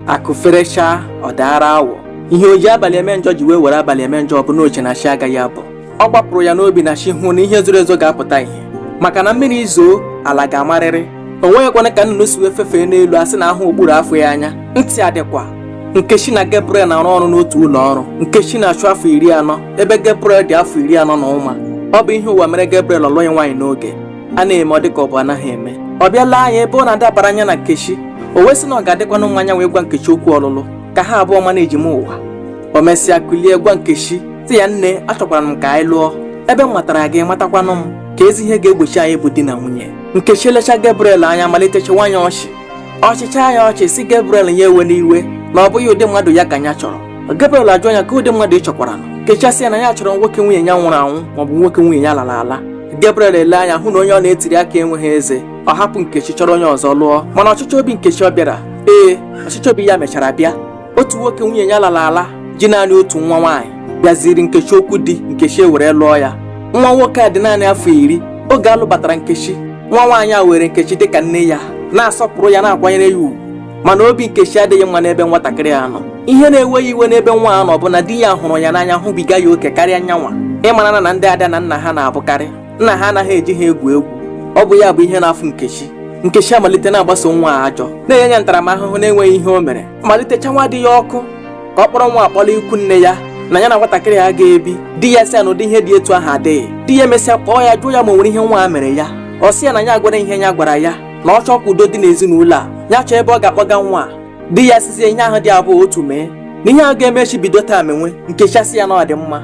akụ ferechaa ọ daara awọ ihe o ji abalị eme njọ ji wee were abalị eme njọ ọ bụ na o che na chi agaghị abọ ọ gbapụrụ ya n'obi na chi hụ na ihe zoro ezo ga-apụta ihe maka na mmiri zoo ala ga-amarịrị o nweghịkwanụ ka nnụnụ si wee fefee n'elu a sị na ahụghị okpuru afọ ya anya ntị adịkwa nkechi na Gabriel na-arụ ọrụ n'otu ụlọ ọrụ nkechi na-achụ afọ iri anọ ebe Gabriel dị afọ iri anọ na ụma ọ bụ ihe ụwa mere Gabriel ọ lụghị nwaanyị n'oge a na-eme ọ dị ka ọ bụ anaghị eme ọ bịa lee anya ebe ọ na-adabara ya na nkechi o wee sị na ọ ga-adịkwanụ mma nyanwa ịgwa nkechi okwu ọlụlụ ka ha abụọ ma na-eji m ụwa o mesịa kulie gwa nkechi sị ya nne achọkwara m ka anyị lụọ ebe m matara gị ị matakwanụ m keezi ihe ga-egbochi anyị ịbụ di na nwunye nkechi lecha Gabriel anya malite chịwa ya ọchị ọ chịcha ya ọchị sị Gabriel ya ewena iwe na ọ bụghị ụdị mmadụ ya ka ya chọrọ Gabriel ajụọ ya kee ụdị mmadụ ị chọkwara nkechi asị ya na ya chọrọ nwoke nwunye ya nwụrụ anwụ maọbụ nwoke nwunye ya lara ala Gabriel ele anya hụ na onye ọ na-etiri akị enweghị eze ọ hapụ Nkechi chọrọ onye ọzọ lụọ mana ọchịchọ obi Nkechi ọ bịara ee ọchịchọ obi ya mechara bịa otu nwoke nwunye ya lara ala ji naanị otu nwa nwaanyị bịaziri nkechi okwu di nkechi ewere lụọ ya nwa nwoke a dị naanị afọ iri oge a lụbatara nkechi nwa nwaanyị a were nkechi dịka nne ya na-asọpụrụ ya na-akwanyere ya ugwu mana obi nkechi adịghị mma n'ebe nwatakịrị a nọ ihe na-ewe ya iwe n'ebe nwa a nọ bụ na di ya hụrụ ya n'anya hụbiga ya oke karịa nyanwa ị marana na ndị ada na nna ha na-abụkarị nna ha anaghị eji ha egwu egwu ọ bụ ya bụ ihe na-afụ nkechi nkechi amalite na-agbaso nwa a ajọ na-enye ya ntaramahụhụ na-enweghị ihe o mere malite chanwa di ya ọkụ ka ọ kpọrọ nwa a kpọlaa ikwu nne ya na ya na nwatakịrị a agaghị ebi di ya sị ya na ụdị ihe dị etu ahụ adịghị di ya emesịa kpọọ ya jụọ ya ma o nwere ihe nwa a mere ya ọ sị ya na ya agwara ihe ya gwara ya na ọ chọọ ka udo dị n'ezinụlọ a ya chọọ ebe ọ ga-akpọga nwa a di ya sịzie ihe ahụ dị abụọ otu mee na ihe ahụ ga-eme echi bido taa menwe nkechi asị ya na ọ dị mma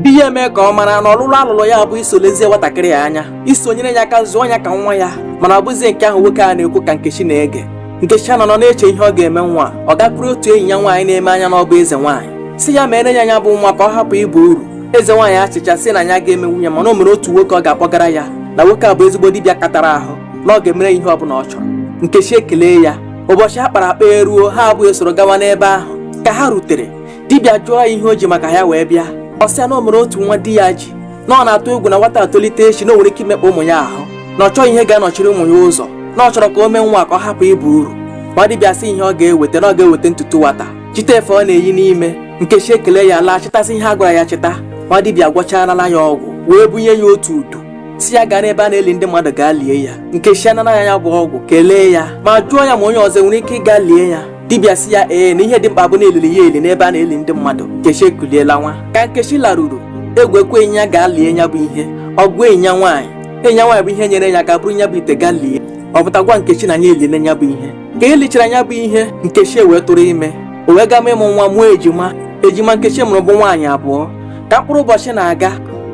di ya eme ka ọ mara na ọlụlụ a lụlụ ya bụ iso lezie nwatakịrị a anya iso nyere ya aka zụọ ya ka nwa ya mana ọ bụzie nke ahụ nwoke a na-ekwu ka Nkechi na-ege nkechi anọrọ na-eche ihe ọ ga-eme nwa a ọ gakwuru otu enyi ya nwaanyị na-eme anya na ọ bụ eze nwaanyị sị ya meere ya nya bụ nwa ka ọ hapụ ịba uru eze nwaanyị achịcha sị na ya agaghị emenwu ya mana o nwere otu nwoke ọ ga-akpọgara ya na nwoke a bụ ezigbo dibịa katara ahụ na ọ ga-emere ya ihe ọ bụla ọ chọrọ nkechi ekelee ya ụbọchị a kpara akpa eruo ha abụọ esoro gawa n'ebe ahụ ka ha rutere dibịa jụọ ya ihe o ji maka ya wee bịa ọ sị ya na o nwere otu nwa di ya ji na ọ na-atụ egwu na nwata a tolite echi na o nwere ike imekpa ụmụ ya ahụ na ọ chọghị ihe ga-anọchiri ụmụ ya ụzọ na ọ chọrọ ka o mee nwa a ka ọ hapụ ịba uru nwa dibịa sị ihe ọ ga-eweta na ọ ga-eweta ntutu nwata chịta efe ọ na-eyi n'ime nkechi ekele ya laa chịtasị ihe a gwara ya chịta nwa dibịa gwọcharala ya ọgwụ wee bunye ya otu udu sị ya gaa n'ebe a na-eli ndị mmadụ gaa lie ya nkechi anara ya ya bụ ọgwụ kelee ya ma jụọ ya ma onye ọzọ nwere ike ịga lie ya dibịa sị ya ee na ihe dị mkpa bụ na elili ya eli n'ebe a na-eli ndị mmadụ nkechi ekulie lawa ka nkechi laruru egwu ekweghị nya ga lie ya bụ ihe ọ gwa enyi ya nwaanyị enyi ya nwaanyị bụ ihe nyere ya aka buru nya bụ ite ga lie ọ pụta gwa nkechi na nya eliele ya bụ ihe ka e lichara ya bụ ihe nkechi wee tụrụ ime o wee gama ịmụ nwa mụọ ejima ejima nkechi mụrụ bụ nwaanyị abụọ ka mkpụrụ ụbọchị na-aga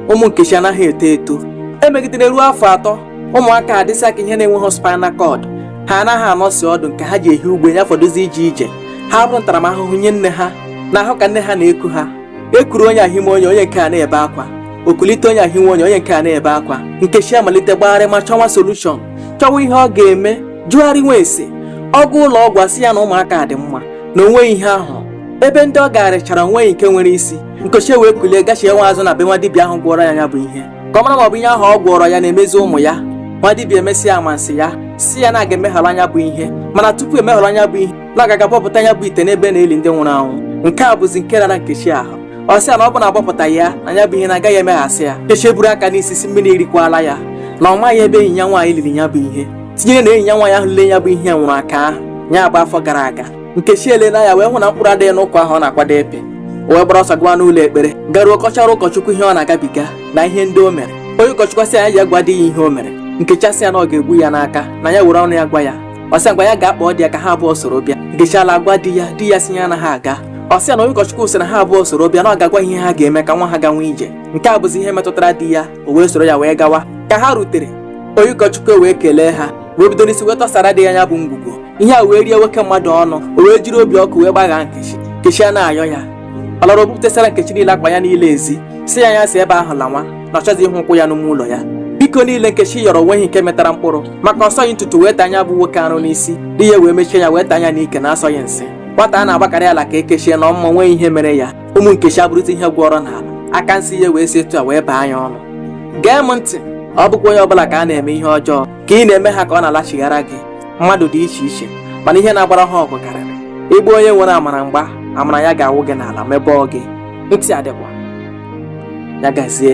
ụmụ nkechi anaghị eto eto emegidere ruo afọ atọ ụmụaka adịsa ka ihe na-enweghị spinal cord ha anaghị anọsi ọdụ nke ha ji ehi ugbe ya fọdụzi ije ije ha bụrụ ntaramahụhụ nye nne ha n'ahụ ka nne ha na-eku ha ekuru onye ahime onye onye nke a na-ebe akwa okulite onye ahime onye onye nke a na-ebe akwa nkechi amalite gbagharịma chọwa solushọn chọwa ihe ọ ga-eme jụgharịwa ese ọ gaa ụlọ ọgwụ a sị ya na ụmụaka dị mma na onweghị ihe a hụ ebe ndị ọ garịchara onweghị nke nwere isi nkechi wee kulie gachiwa azụ na be nwa dibịa ahụ gwọọrọ ya ya bụ ihe ka ọ mara ma ọ bụ ihe ahụ ọ gwọọrọ ya na-emezi ụmụ ya nwa dibịa emesịa amansi ya sị ya na a ga-emeghara nya bụ ihe mana tupu emeghara nya bụ ihe na a ga-aga abọpụta nya bụ ite n'ebe a na-eli ndị nwụrụ anwụ nke a bụzi nke rara nkechi ahụ ọ sị ya na ọ bụ na abọpụtaghị ya na ya bụ ihe na agaghị emeghasị ya nkechi eburu aka n'isi sị mmiri erikwala ya na ọ maghị ebe enyi ya nwaanyị liri ya bụ ihe tinyere na enyi ya nwaanyị ahụ liri ya bụ ihe nwụrụ aka ahụ ya bụ afọ gara aga nkechi elee anya wee hụ na mkpụrụ adịghị n'ụkwa ahụ ọ na-akwado epe o wee gbara ọsọ gawa n'ụlọ ekpere garuo kọchara ụkọchukwu ihe ọ na-agabiga na ihe ndị o mere onye ụkọchukwu asị ya jee gwa di ya ihe o mere nkechi asị ya na ọ ga-egbu ya n'aka na ya were ọnụ ya gwa ya ọ sị ngwa ya gaa kpọọ di ya ka ha abụọ soro bịa nkechi alaa gwa di ya di ya sị ya anaghị aga ọ sị ya na onye ụkọchukwu sị na ha abụọ soro bịa na ọ ga-agwa ihe ha ga-eme ka nwa ha gawa ije nke a bụzi ihe metụtara di ya o wee soro ya wee gawa ka ha rutere onye ụkọchukwu wee kelee ha wee bido n'isi wee tọsara di ya ya bụ ngwugwo ihe a wee rie nwoke mmadụ ọnụ o wee jiri obi ọkụ wee gbaghaa nkechi nkechi a na-ayọ ya ọ lọrọ bupụtasara nkechi niile akpa ya niile ezi sị ya ya si ebe ahụ lawa na ọ chọghịzi ịhụ ụkwụ ya n'ime ụlọ ya biko niile nkechi yọrọ onweghị nke metara mkpụrụ maka ọ sọghị ntutu wee taa nya bụ nwoke arụ n'isi di ya wee mechie ya wee taa nya n'ike na asọghị nsị nwata a na-agbakarị ala ka ekechie na ọmụma nweghị ihe mere ya ụmụ nkechi abụrụta ihe gwọrọ n'ala aka nsị ya wee si etu a wee baa nya ọnụ gee m ntị ọ bụkwa onye ọbụla ka na-eme ihe ọjọọ ka ị na-eme ha ka ọ na-alachighara gị mmadụ dị iche iche mana ihe na-agbara ha ọgụ karịrị ị gbaa onye nwere amara mgba amara ya ga-awụ gị n'ala mebọọ gị ntị adịkwa ya gazie